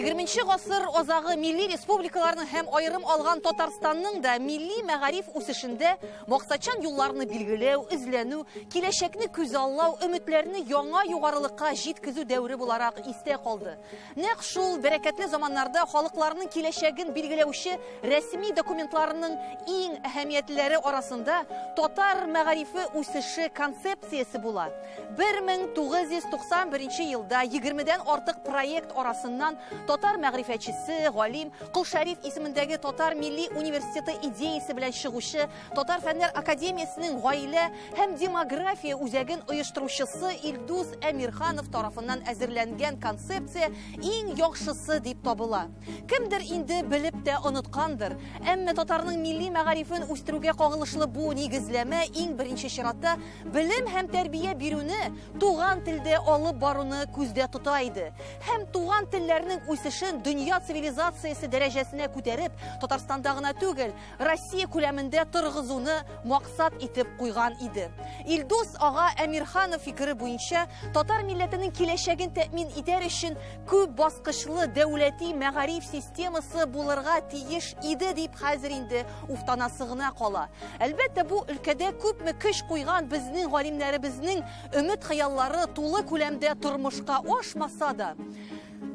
20 гасыр азагы милли республикаларның һәм аерым алган Татарстанның да милли мәгариф үсешендә максатчан юлларны билгеләү, эзләнү, киләчәкне күзаллау, өметләрне яңа югарылыкка җиткезү дәвре буларак истә калды. Нәкъ шул бәрәкәтле заманнарда халыкларның киләчәген билгеләүче рәсми документларының иң әһәмиятлеләре арасында татар мәгарифе үсеше концепциясе була. 1991 елда 20 дән артык проект арасыннан татар мәгърифәтчесе, галим, Кол Шәриф исемендәге Татар милли университеты идеясе белән чыгучы Татар фәннәр академиясенең гаилә һәм демография үзәген оештыручысы Илдус Әмирханов тарафыннан әзерләнгән концепция иң яхшысы дип табыла. Кемдер инде белеп тә оныткандыр, әмма татарның милли мәгарифен үстерүгә кагылышлы бу нигезләмә иң беренче чиратта белем һәм тәрбия бирүне туган телдә алып баруны күздә тота иде һәм туган телләрнең үсешен дөнья цивилизациясе дәрәҗәсенә күтәреп, Татарстанда гына түгел, Россия күләмендә торгызуны максат итеп куйган иде. Илдус ага Әмирханов фикере буенча, татар милләтенең киләчәген тәэмин итәр өчен күп баскычлы дәүләти мәгариф системасы булырга тиеш иде дип хәзер инде уфтанасы гына кала. Әлбәттә, бу өлкәдә күпме көч куйган безнең галимнәребезнең өмет-хыяллары тулы күләмдә тормышка ашмаса да,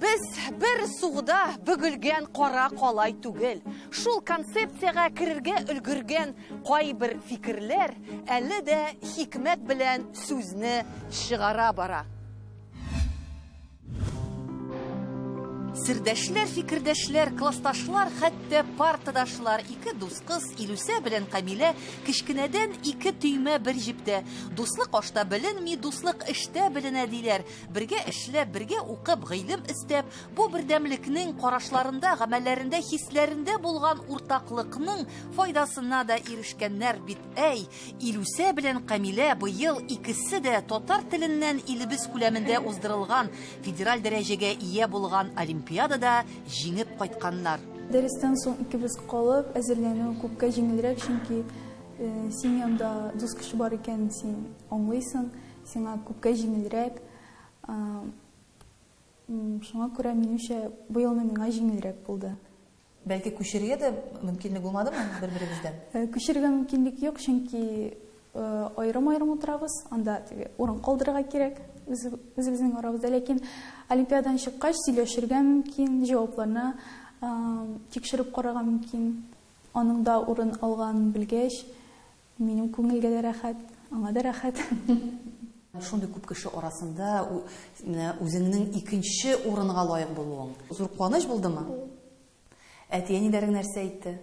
Без бер сугда бөгелгән кара калай түгел. Шул концепциягә керергә өлгергән кайбер фикерләр әле дә хикмәт белән сүзне чыгара бара. Сердәшләр, фикердәшләр, классташлар, хәтта партадашлар, ике дус кыз Илүсә белән Камилә кечкенәдән ике төймә бер җептә. Дуслык ашта беленми, дуслык эштә беленә диләр. Бергә эшләп, бергә укып, гыйлем эстәп, бу бердәмлекнең карашларында, гамәлләрендә, хисләрендә булган уртаклыкның файдасына да ирешкәннәр бит, әй! Илүсә белән Камилә быел икесе дә татар теленнән илебез күләмендә уздырылган федераль дәрәҗәгә ия булган олимпиадада җиңеп кайтканнар. Дәрестән соң икебез калып, әзерләнү күпкә җиңелрәк, чөнки син янда дус кеше бар икәнен син аңлыйсың, Сиңа күпкә җиңелрәк. Шуңа күрә, минемчә, бу елны миңа җиңелрәк булды. Бәлки күчерергә дә мөмкинлек булмадымы бер-берегездән? Э, күчерергә мөмкинлек юк, чөнки э, аерым-аерым утырабыз, анда теге урын калдырырга кирәк үзебезнең арабызда. Ләкин олимпиададан чыккач сөйләшергә мөмкин, җавапларны э, тикшереп карарга мөмкин. Аның да урын алган белгәч, Минем күңелгә дә рәхәт, аңа да рәхәт. Шундый күп кеше арасында менә үзеңнең икенче урынга лаек булуың. Зур куаныч булдымы? Әти-әниләрең нәрсә әйтте?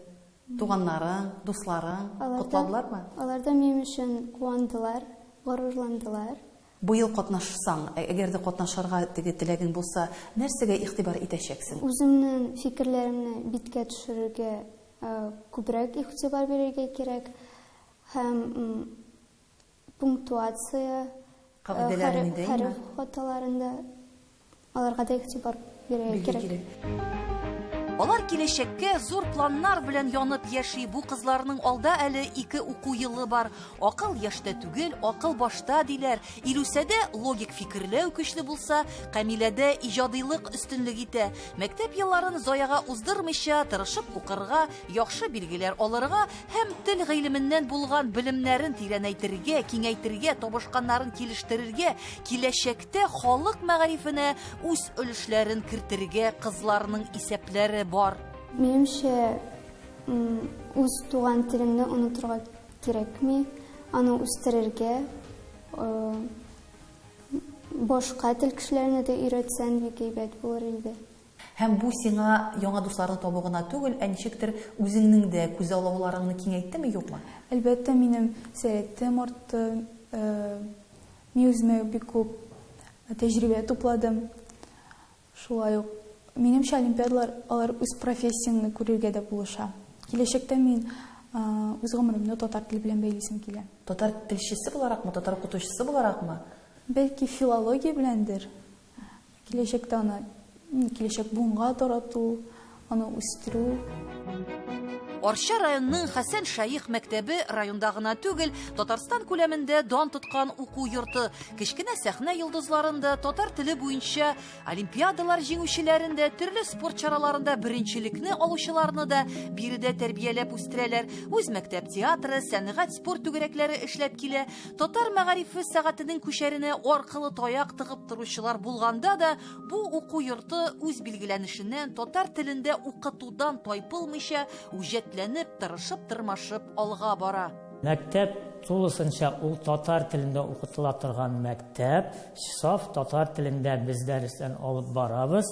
Туганнарың, дусларың котладылармы? Алар да минем өчен куандылар, горурландылар. Быел катнашсаң, ә әгәр дә катнашырга теге теләгең булса, нәрсәгә игътибар итәчәксең? Үземнең фикерләремне биткә төшерергә күбрәк игътибар бирергә кирәк һәм пунктуация, Кагыйдәләрен нидә имә? хәреф хаталарын да Аларга да игътибар бирергә кирәк. Алар киләчәккә зур планнар белән янып яши. Бу кызларның алда әле ике уку елы бар. Акыл яшьтә түгел, акыл башта, диләр. Илүсәдә логик фикерләү көчле булса, Камиләдә иҗадыйлык өстенлек итә. Мәктәп елларын заяга уздырмыйча, тырышып укырга, яхшы билгеләр алырга һәм тел гыйлеменнән булган белемнәрен тирәнәйтергә, киңәйтергә, табышканнарын килештерергә, киләчәктә Мәктәптә халык мәгарифенә үз өлешләрен кертергә кызларның исәпләре бар. Минемчә, үз туган телеңне онытырга кирәкми, аны үстерергә, башка тел кешеләренә дә өйрәтсәң, бик әйбәт булыр иде. Һәм бу сиңа яңа дусларны табу гына түгел, ә ничектер үзеңнең дә күзаллауларыңны киңәйттеме, юкмы? Әлбәттә, минем сәләтем артты, Мин үземә бик күп тәҗрибә тупладым. Шулай ук, минемчә, олимпиадалар, алар үз профессияңне күрергә дә булыша. Киләчәктә мин үз гомеремне татар теле белән бәйлисем килә. Татар телчесе буларакмы, татар укытучысы буларакмы? Бәлки, филология беләндер? Киләчәктә аны, киләчәк буынга тарату, аны үстерү. Арча районының Хәсән Шәех мәктәбе районда гына түгел, Татарстан күләмендә дан тоткан уку йорты. Кечкенә сәхнә йолдызларын да, татар теле буенча олимпиадалар җиңүчеләрен дә, төрле спорт чараларында беренчелекне алучыларны да биредә тәрбияләп үстерәләр. Үз мәктәп театры, сәнгать, спорт түгәрәкләре эшләп килә. Татар мәгарифе сәгатенең күчәренә аркылы таяк тыгып торучылар булганда да, бу уку йорты үз билгеләнешеннән, татар телендә укытудан тайпылмыйча, үҗәтләнеп, тырышып-тырмашып алга бара. Мәктәп тулысынча ул татар телендә укытыла торган мәктәп, саф татар телендә без дәресләр алып барабыз.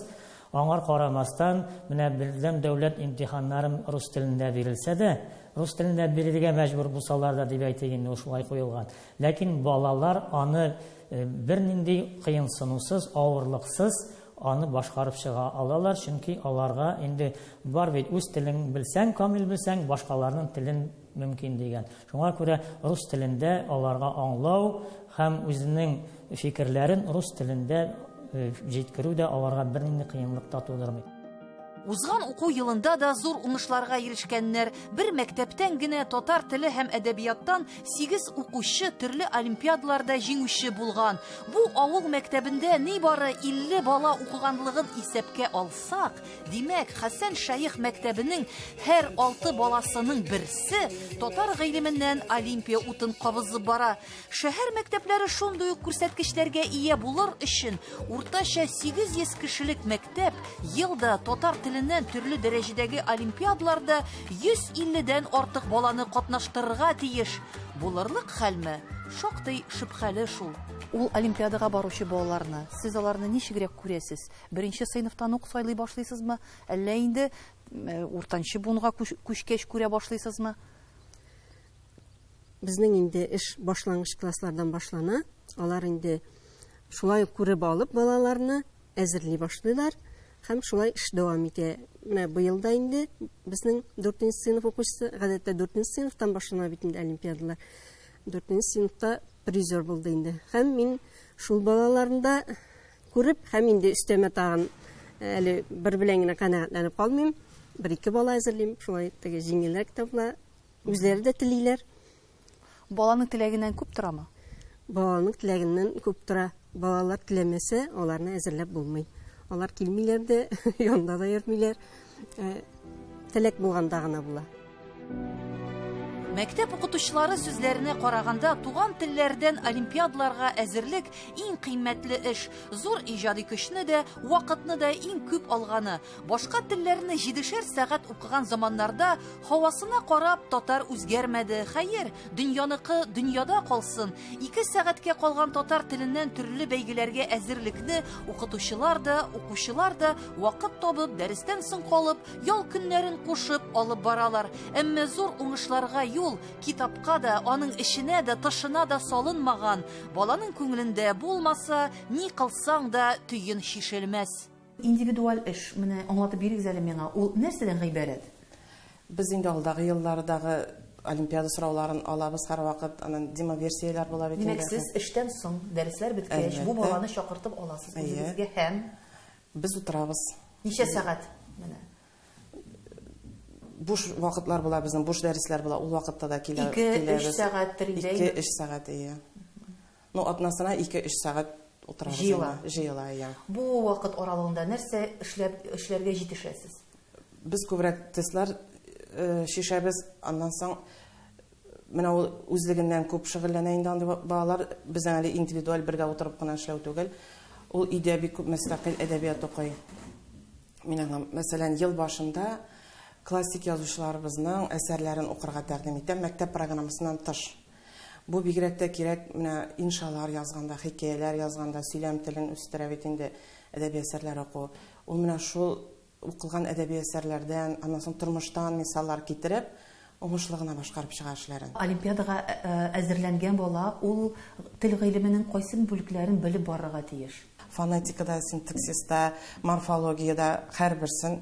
Аңар карамастан, менә бердәм дәүләт имтиханнарын рус телендә бирелсә дә, рус телендә бирергә мәҗбүр булсалар да дип әйтик инде, ул шулай куелган. Ләкин балалар аны бернинди кыенсынусыз, авырлыксыз аны башкарып чыга алалар, чөнки аларга инде бар бит, үз телең белсәң, камил белсәң, башкаларның телен мөмкин дигән. Шуңа күрә рус телендә аларга аңлау һәм үзенең фикерләрен рус телендә э, җиткерү дә аларга бернинди кыенлык та тудырмый. Узган уку елында да зур уңышларга ирешкәннәр. Бер мәктәптән генә татар теле һәм әдәбияттан 8 укучы төрле олимпиадаларда җиңүче булган. Бу авыл мәктәбендә нибары 50 бала укыганлыгын исәпкә алсак, Димәк, Хәсән шәех мәктәбенең һәр алты баласының берсе татар гыйлеменнән Олимпия утын кабызып бара. Шәһәр мәктәпләре шундый ук күрсәткечләргә ия булыр өчен уртача 800 кешелек мәктәп елда татар теленнән төрле дәрәҗәдәге олимпиадларда 150-дән артык баланы катнаштырырга тиеш. Булырлык хәлме? Шактый шөбһәле шул. Ул олимпиадага баручы балаларны сез аларны ничегрәк күрәсез? Беренче сыйныфтан ук сайлый башлыйсызмы, әллә инде уртанчы буынга күчкәч күрә башлыйсызмы? Безнең инде эш башлангыч класслардан башлана. Алар инде шулай ук күреп алып балаларны әзерли башлыйлар һәм шулай эш дәвам итә. Менә быел да инде безнең 4 нче сыйныф укучысы, гадәттә 4 нче сыйныфтан башлана бит инде олимпиадалар. 4 нче сыйныфта призер булды инде. Һәм мин шул балаларында Күреп һәм инде өстәмә тагын әле бер белән генә канәгатьләнеп калмыйм. Бер-ике бала әзерлим, шулай теге җиңелрәк тә була. Үзләре дә телиләр. Баланың теләгеннән күп торамы? Баланың теләгеннән күп тора. Балалар теләмәсә, аларны әзерләп булмый. Алар килмиләр дә, янда да йөрмиләр. Э, теләк булганда гына була. Мәктәп укытучылары сүзләренә караганда, туган телләрдән олимпиадаларга әзерлек иң кыйммәтле эш. Зур иҗади көчне дә, вакытны да иң күп алганы. Башка телләрне җидешәр сәгать укыган заманнарда һавасына карап татар үзгәрмәде. Хәер, дөньяныкы дөньяда калсын, Ике сәгатькә калган татар теленнән төрле бәйгеләргә әзерлекне укытучылар да, укучылар да вакыт табып, дәрестән соң калып, ял көннәрен кушып алып баралар. Әмма зур уңышларга юл китапка да, аның эченә дә, тышына да салынмаган. Баланың күңелендә булмаса, ни кылсаң да төен чишелмәс. Индивидуаль эш, менә аңлатып бирегез әле миңа, ул нәрсәдән гыйбарәт? Без инде алдагы еллардагы олимпиада сорауларын алабыз һәрвакыт, аннан демоверсияләр була бит инде. Димәк, сез эштән соң, дәресләр беткәч, бу баланы чакыртып аласыз үзегезгә һәм? Без утырабыз. Ничә сәгать? Менә. Буш вакытлар була безнең, буш дәресләр була, ул вакытта да килә. Ике, өч сәгатьтер инде. Ике, өч сәгать, әйе. Ну, атнасына ике-өч сәгать утырабыз. Җыела. Җыела, иә. Бу вакыт аралыгында нәрсә эшләп, эшләргә җитешәсез? Без күбрәк тестлар чишәбез, аннан соң менә ул үзлегеннән күп шөгыльләнә инде андый балалар, безнең әле индивидуаль бергә утырып кына эшләү түгел. Ул өйдә бик күп мөстәкыйль әдәбият укый. Мин аңа, мәсәлән, ел башында классик язучыларыбызның әсәрләрен укырга тәкъдим итәм, мәктәп программасыннан тыш. Бу бигрәк тә кирәк менә иншалар язганда, хикәяләр язганда, сөйләм телен үстерә бит инде әдәби әсәрләр уку. Ул менә шул укылган әдәби әсәрләрдән, аннан соң тормыштан мисаллар китереп, уңышлы гына башкарып чыга эшләрен. Олимпиадага әзерләнгән бала ул тел гыйлеменең кайсы бүлекләрен белеп барырга тиеш? Фонетикада, синтаксиста, морфологиядә һәрберсен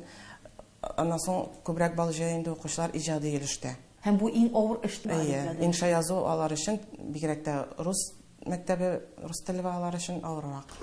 Аннан соң күбрәк бал җыя инде укучылар иҗади өлештә. Һәм бу иң авыр эш бит. Әйе, инша язу алар өчен, бигрәк тә рус мәктәбе, рус теле балалары өчен авыррак.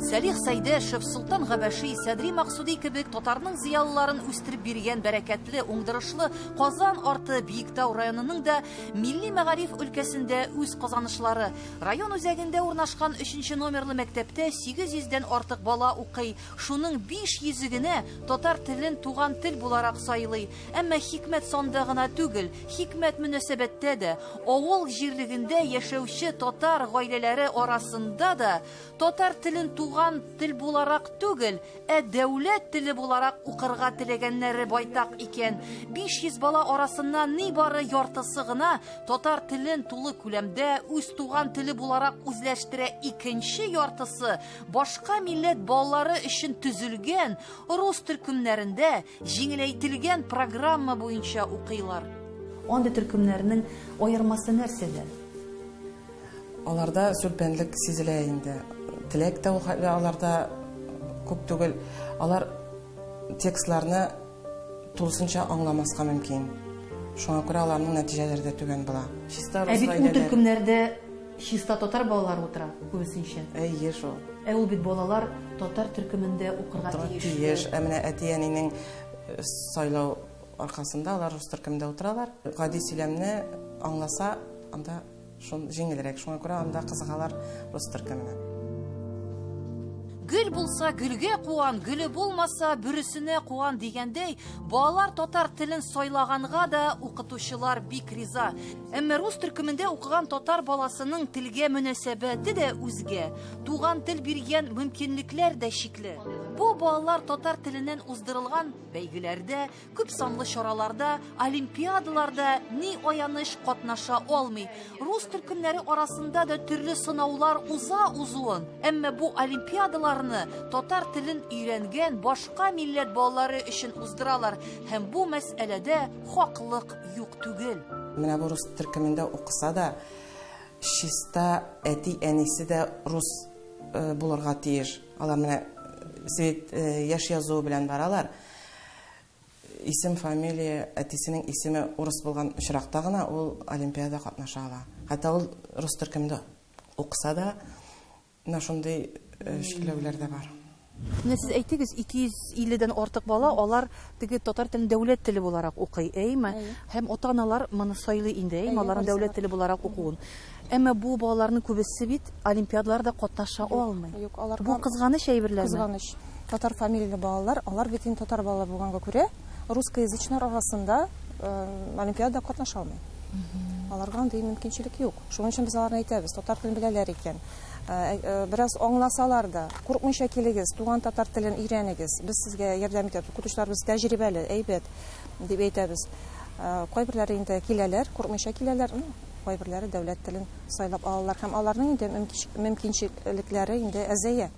Сәлих Сәйдәшев, Солтан Габәши, Садри Максуди кебек татарның зыялыларын үстереп биргән бәрәкәтле, уңдырышлы Казан арты Биектау районының да милли мәгариф өлкәсендә үз казанышлары. Район үзәгендә урнашкан 3 номерлы мәктәптә 800 дән артык бала укый. Шуның биш йөзе генә татар телен туган тел буларак сайлый. Әмма хикмәт санда гына түгел, хикмәт мөнәсәбәттә дә. Авыл җирлегендә яшәүче татар гаиләләре арасында да татар телен туган тел буларак түгел, ә дәүләт теле буларак укырга теләгәннәре байтак икән. 500 бала арасыннан нибары яртысы гына татар телен тулы күләмдә үз туган теле буларак үзләштерә, икенче яртысы Башка милләт балалары өчен төзелгән рус төркемнәрендә җиңеләйтелгән программа буенча укыйлар. Андый төркемнәрнең аермасы нәрсәдә? Аларда сүлпәнлек сизелә инде. Теләк тә ул хәтле аларда күп түгел. Алар текстларны тулысынча аңламаска мөмкин. Шуңа күрә аларның нәтиҗәләре дә түбән була. Чиста рус гаиләләре. Ә бит ул төркемнәрдә Чиста татар балалары утыра, күбесенчә. Әйе шул. Ә ул бит балалар татар төркемендә укырга тиеш. Тиеш. Ә менә әти-әнинең э, сайлау аркасында алар рус төркемендә утыралар. Гади сөйләмне аңласа, анда шул җиңелрәк. Шуңа күрә анда кызыгалар рус төркеменә. Гөл булса, гөлгә куан, гөле булмаса, бүресенә куан дигәндәй, балалар татар телен сайлаганга да укытучылар бик риза. Әмма рус төркемендә укыган татар баласының телгә мөнәсәбәте дә үзгә. Туган тел биргән мөмкинлекләр дә чикле. Бу балалар татар теленнән уздырылган бәйгеләрдә, күп санлы чараларда, олимпиадаларда ни аяныч катнаша алмый. Рус төркемнәре арасында да төрле сынаулар уза узуын, әмма бу олимпиадаларны татар телен өйрәнгән башка милләт балалары өчен уздыралар һәм бу мәсьәләдә хаклык Юк түгел. Менә бу рус төркемендә укыса да, чиста әти-әнисе дә рус э, булырга тиеш. Алар менә э, свет э, яшь язуы белән баралар. Исем, фамилия, әтисенең исеме урыс булган очракта гына ул олимпиада катнаша ала. Хәтта ул рус төркемендә укыса да, Менә шундый чикләүләр дә бар. Менә сез әйтегез, 250 дән артык бала, алар теге татар телен дәүләт теле буларак укый, әйеме? Һәм ата-аналар моны сайлый инде, әйеме, аларның дәүләт теле буларак укуын. Әмма бу балаларның күбесе бит олимпиадаларда катнаша алмый. Юк, аларга Бу кызганыч әйберләрме? Кызганыч. Татар фамилияле балалар, алар бит инде татар балалары булганга күрә, русскоязычнар арасында олимпиадада катнаша алмый. Аларга андый мөмкинчелек юк. Шуның өчен без аларны әйтәбез, татар телен беләләр икән, э, э, бераз аңласалар да, курыкмыйча килегез, туган татар телен өйрәнегез, без сезгә ярдәм итәбез, укытучыларыбыз тәҗрибәле, әйбәт, дип әйтәбез. Э, кайберләре инде киләләр, курыкмыйча киләләр, ну, кайберләре дәүләт телен сайлап алалар һәм аларның инде мөмкинчелекләре инде әзәя.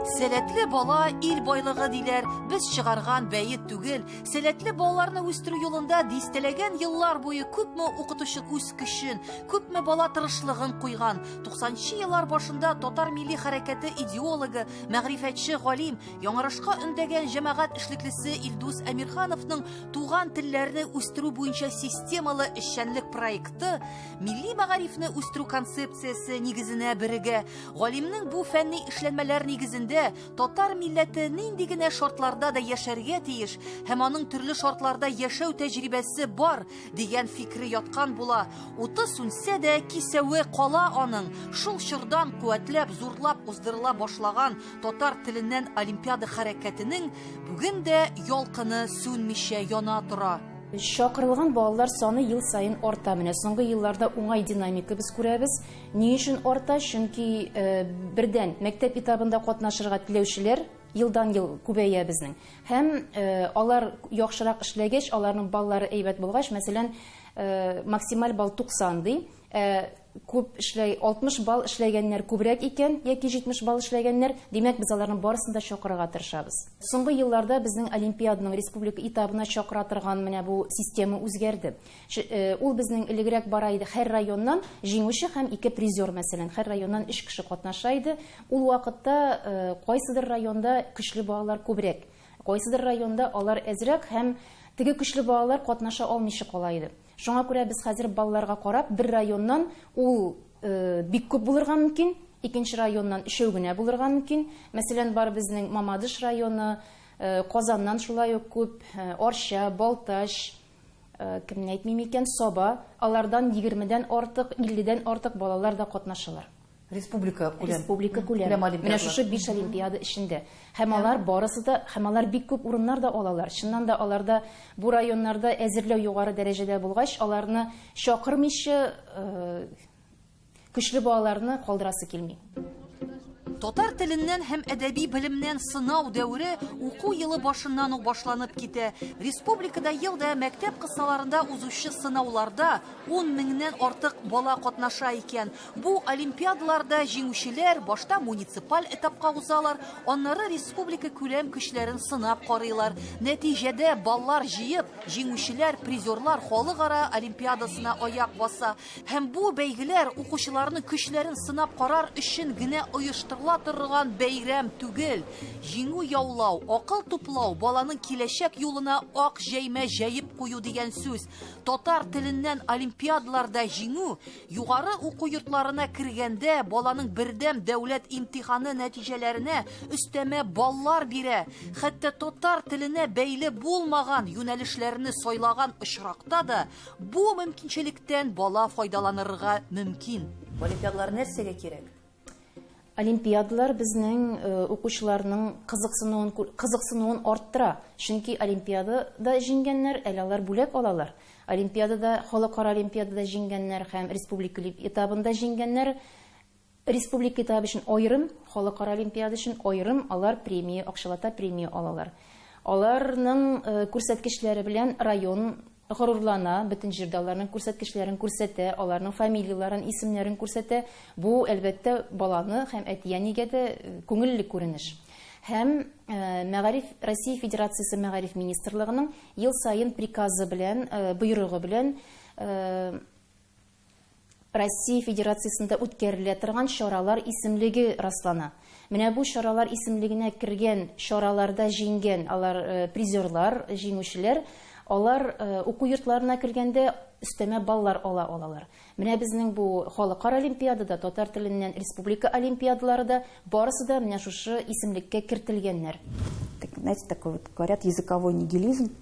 Сәләтле бала ил байлыгы диләр. Без чыгарган бәет түгел. Сәләтле балаларны үстерү юлында дистәләгән еллар буе күпме укытучы үз көчен, күпме бала тырышлыгын куйган. 90нчы еллар башында татар милли хәрәкәте идеологы, мәгърифәтче галим, яңарышка өндәгән җәмәгать эшлеклесе Илдус Әмирхановның туган телләрне үстерү буенча системалы эшчәнлек проекты милли мәгарифне үстерү концепциясе нигезенә бирегә. Галимнең бу фәнни эшләнмәләр нигезендә татар милләте нинди генә шартларда да яшәргә тиеш һәм аның төрле шартларда яшәү тәҗрибәсе бар дигән фикере яткан була. Уты сүнсә дә, кисәве кала аның. Шул чордан куәтләп, зурлап уздырыла башлаган татар теленнән олимпиада хәрәкәтенең бүген дә ялкыны сүнмичә яна тора. Чакырылган балалар саны ел саен арта. Менә соңгы елларда уңай динамика без күрәбез. Ни өчен арта? Чөнки бердән, мәктәп этабында катнашырга теләүчеләр елдан-ел күбәя безнең. Һәм алар яхшырак эшләгәч, аларның баллары әйбәт булгач, мәсәлән, максималь балл 90 ди. Күп эшләй, 60 балл эшләгәннәр күбрәк икән, яки 70 балл эшләгәннәр, димәк, без аларның барысын да чакырырга тырышабыз. Соңгы елларда безнең олимпиаданың республика этабына чакыра торган менә бу система үзгәрде. Ж, э, ул безнең элегрәк бара иде хәр районнан җиңүче һәм ике призер, мәсәлән, хәр районнан өч кеше катнаша иде. Ул вакытта э, кайсыдыр районда көчле балалар күбрәк, кайсыдыр районда алар әзрәк һәм теге көчле балалар катнаша алмыйча кала иде. Шуңа күрә без хәзер балаларга карап, бер районнан ул э, бик күп булырга мөмкин, икенче районнан өчәү генә булырга мөмкин. Мәсәлән, бар безнең Мамадыш районы, э, Казаннан шулай ук күп, э, Арча, Балтач, Э, кемне әйтмим икән саба алардан егермедән артык илледән артык балалар да катнашалар республика күләм республика күләм менә шушы биш олимпиада эчендә һәм алар барысы да һәм алар бик күп урыннар да алалар чыннан да аларда бу районнарда әзерләү югары дәрәҗәдә булгач аларны чакырмыйча э, Көчле балаларны калдырасы килми. Татар теленнән һәм әдәби белемнән сынау дәвре уку елы башыннан ук башланып китә. Республикада елда мәктәп кысаларында узучы сынауларда 10 меңнән артык бала катнаша икән. Бу олимпиадаларда җиңүчеләр башта муниципаль этапка узалар, аннары республика күләм көчләрен сынап карыйлар. Нәтиҗәдә баллар җыеп, җиңүчеләр, призерлар халыкара олимпиадасына аяк баса. Һәм бу бәйгеләр укучыларның көчләрен сынап карар өчен генә оештырыла торган бәйрәм түгел. Җиңү яулау, акыл туплау, баланың киләчәк юлына ак җәймә җәеп кую дигән сүз. Татар теленнән олимпиадаларда җиңү, югары уку йортларына кергәндә баланың бердәм дәүләт имтиханы нәтиҗәләренә өстәмә баллар бирә. Хәтта татар теленә бәйле булмаган юнәлешләрне сайлаган очракта да Бу мөмкинчелектән бала файдаланырга мөмкин. Олимпиадалар нәрсәгә кирәк? Олимпиадалар безнең э, укучыларның кызыксынуын кызыксынуын арттыра. Чөнки олимпиадада җиңгәннәр, әле алар бүләк алалар. Олимпиадада, халыкара олимпиадада җиңгәннәр һәм республика этабында җиңгәннәр Республика этабы өчен аерым, халыкара олимпиада өчен аерым алар премия, акчалата премия алалар. Аларның күрсәткечләре белән район горурлана, бөтен җирдә аларның күрсәткечләрен күрсәтә, аларның фамилияләрен, исемнәрен күрсәтә. Бу, әлбәттә, баланы һәм әти-әнигә дә күңелле күренеш. Һәм мәгариф, Россия Федерациясе Мәгариф министрлыгының ел саен приказы белән, боерыгы белән, Россия Федерациясендә үткәрелә торган чаралар исемлеге раслана. Менә бу чаралар исемлегенә кергән чараларда җиңгән алар призерлар, җиңүчеләр, алар уку йортларына кергәндә өстәмә баллар ала алалар. Менә безнең бу халыкара олимпиада да, татар теленнән республика олимпиадалары да, барысы да менә шушы исемлеккә кертелгәннәр. Знаете, такой вот, говорят, языковой нигилизм.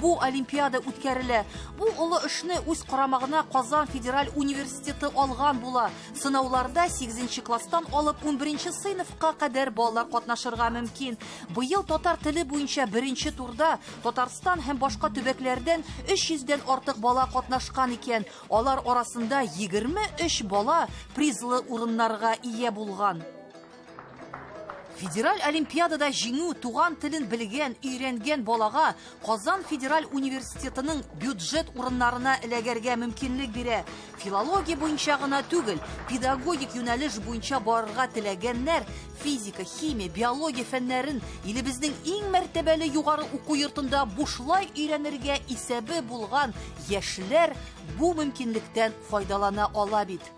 Бу олимпиада үткәрелә. Бу олы эшне үз карамагына Казан федераль университеты алган була. Сынауларда 8 класстан алып 11 сыйныфка кадәр балалар катнашырга мөмкин. Быел татар теле буенча беренче турда Татарстан һәм башка төбәкләрдән 300 дән артык бала катнашкан икән. Алар арасында 23 бала призлы урыннарга ия булган. Федераль олимпиадада җиңү туган телен белгән, өйрәнгән балага Казан федераль университетының бюджет урыннарына эләгәргә мөмкинлек бирә. Филология буенча гына түгел, педагогик юнәлеш буенча барырга теләгәннәр физика, химия, биология фәннәрен илебезнең иң мәртәбәле югары уку йортында бушлай өйрәнергә исәбе булган яшьләр бу мөмкинлектән файдалана ала бит.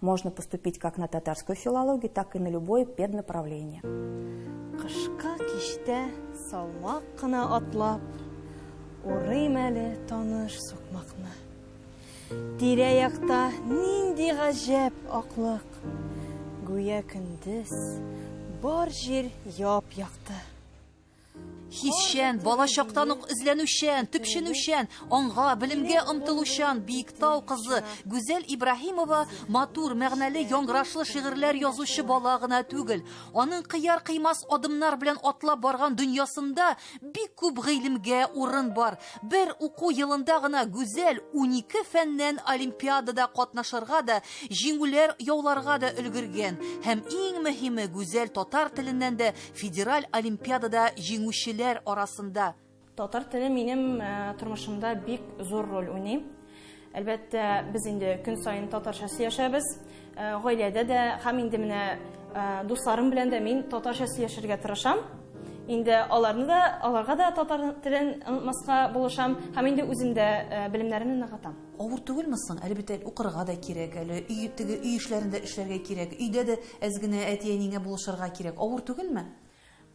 Можно поступить как на татарскую филологию, так и на любое педнаправление. Кышка киштә салмак кына атлап, урыйм әле таныш сукмакны. Тирә-якта нинди гаҗәп аклык. Гүя көндез бар җир яп-якты. Хисчән, бала чактан ук эзләнүчән, төпченүчән, аңга, белемгә омтылучан Биектау кызы Гүзәл Ибраһимова матур, мәгънәле, яңгырашлы шигырьләр язучы бала гына түгел. Аның кыяр-кыймас адымнар белән атлап барган дөньясында бик күп гыйлемгә урын бар. Бер уку елында гына Гүзәл унике фәннән олимпиадада катнашырга да, җиңүләр яуларга да өлгергән. Һәм иң мөһиме, Гүзәл татар теленнән дә Федераль олимпиадада җиңүчеләр арасында Татар теле минем э, тормышымда бик зур роль уйный. Әлбәттә, без инде көн саен татарча сөйләшәбез. Э, гаиләдә дә һәм инде менә э, дусларым белән дә мин татарча сөйләшергә тырышам. Инде аларны да, аларга да татар телен онытмаска булышам һәм инде үзем дә белемнәремне ныгытам. Авыр түгелме соң? Әле бит әле укырга да кирәк, әле өй, теге өй эшләрен дә эшләргә кирәк, өйдә дә әз генә әти-әниеңә булышырга кирәк. Авыр түгелме?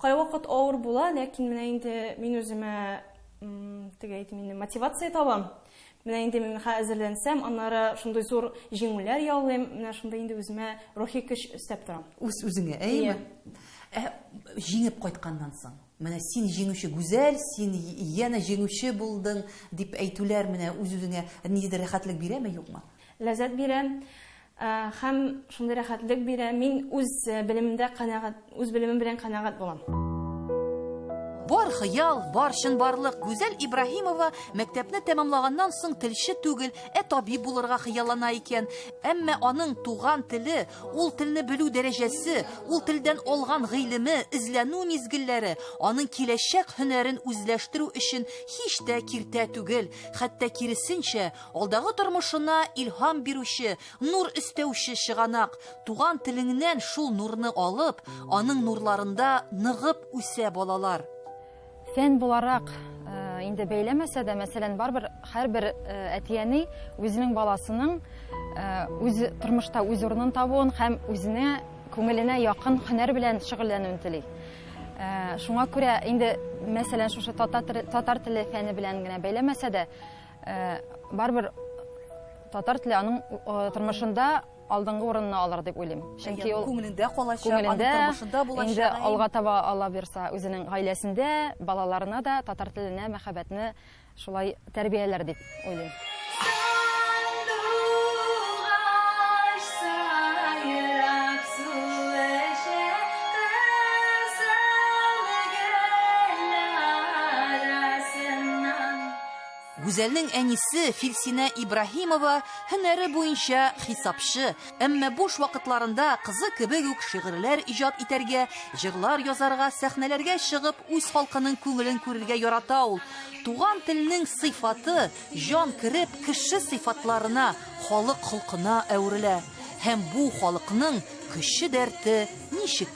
Кайвакыт авыр була, ләкин менә инде мин үземә, теге әйтим инде, мотивация табам. Менә инде мин хә әзерләнсәм, аннары шундый зур җиңүләр яулыйм, менә шундый инде үземә рухи көч өстәп торам. Үз-үзеңә, әйеме? Ия. Ә җиңеп кайтканнан соң? Менә син җиңүче, Гүзәл, син янә җиңүче булдың, дип әйтүләр менә үз-үзеңә ниндидер рәхәтлек бирәме, юкмы? Ләззәт бирә һәм шундый рәхәтлек бирә, мин үз белемемдә канәгать, үз белемем белән канәгать булам. Бар хыял, бар чынбарлык, Гүзәл Ибраһимова мәктәпне тәмамлаганнан соң телче түгел, ә табиб булырга хыяллана икән. Әмма аның туган теле, Ул телне белү дәрәҗәсе, ул телдән алган гыйлеме, эзләнү мизгелләре, аның киләчәк һөнәрен үзләштерү өчен һич тә киртә түгел, хәтта киресенчә, алдагы тормышына илһам бирүче, нур өстәүче чыганак. Туган телеңнән шул нурны алып, аның нурларында ныгып үсә балалар. Фән буларак инде бәйләмәсә дә, мәсәлән, барбер һәрбер әтияни үзенең баласының үз тормышта үз урынын табуын һәм үзенә күңеленә якын һөнәр белән шөгыльләнүен тели. Шуңа күрә инде, мәсәлән, шушы татар теле фәне белән генә бәйләмәсә дә, барбер татар теле аның тормышында алдынгы урынны алыр дип уйлыйм. Чөнки ул күңелендә калачак, күңелендә, тормышында булачак. Инде алга таба Алла бирса, үзенең гаиләсендә, балаларына да татар теленә мәхәббәтне шулай тәрбияләр дип уйлыйм. Гүзәлнең әнисе Филсинә Ибраһимова һөнәре буенча хисапчы, әмма буш вакытларында кызы кебек үк шигырьләр иҗат итәргә, җырлар язарга, сәхнәләргә чыгып, үз халкының күңелен күрергә ярата ул. Туган телнең сыйфаты, җан кереп, кеше сыйфатларына, халык холкына әверелә. Һәм бу халыкның көче-дәрте ничек?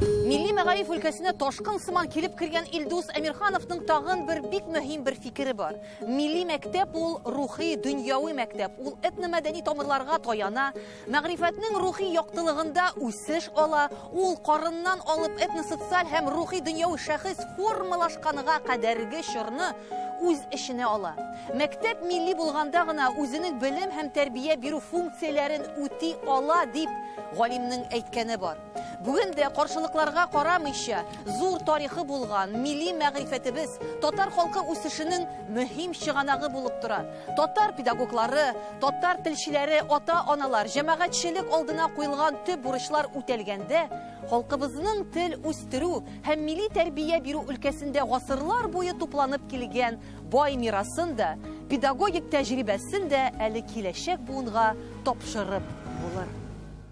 Милли мәгариф өлкәсенә ташкын сыман килеп кергән Илдус Әмирхановның тагын бер бик мөһим бер фикере бар. Милли мәктәп ул рухи, дөньяви мәктәп. Ул этномәдәни тамырларга таяна, мәгърифәтнең рухи яктылыгында үсеш ала, ул карыннан алып этносоциаль һәм рухи дөньяви шәхес формалашканга кадәрге чорны үз эченә ала. Мәктәп милли булганда гына үзенең белем һәм тәрбия бирү функцияләрен үти ала дип галимнең әйткәне бар. Бүген дә каршылыкларга карамыйча, зур тарихы булган милли мәгърифәтебез татар халкы үсешенең мөһим чыганагы булып тора. Татар педагоглары, татар телчеләре, ата-аналар, җәмәгатьчелек алдына куелган төп бурычлар үтәлгәндә, халкыбызның тел үстерү һәм милли тәрбия бирү өлкәсендә гасырлар буе тупланып килгән бай мирасын да, педагогик тәҗрибәсен дә әле киләчәк буынга тапшырып булыр.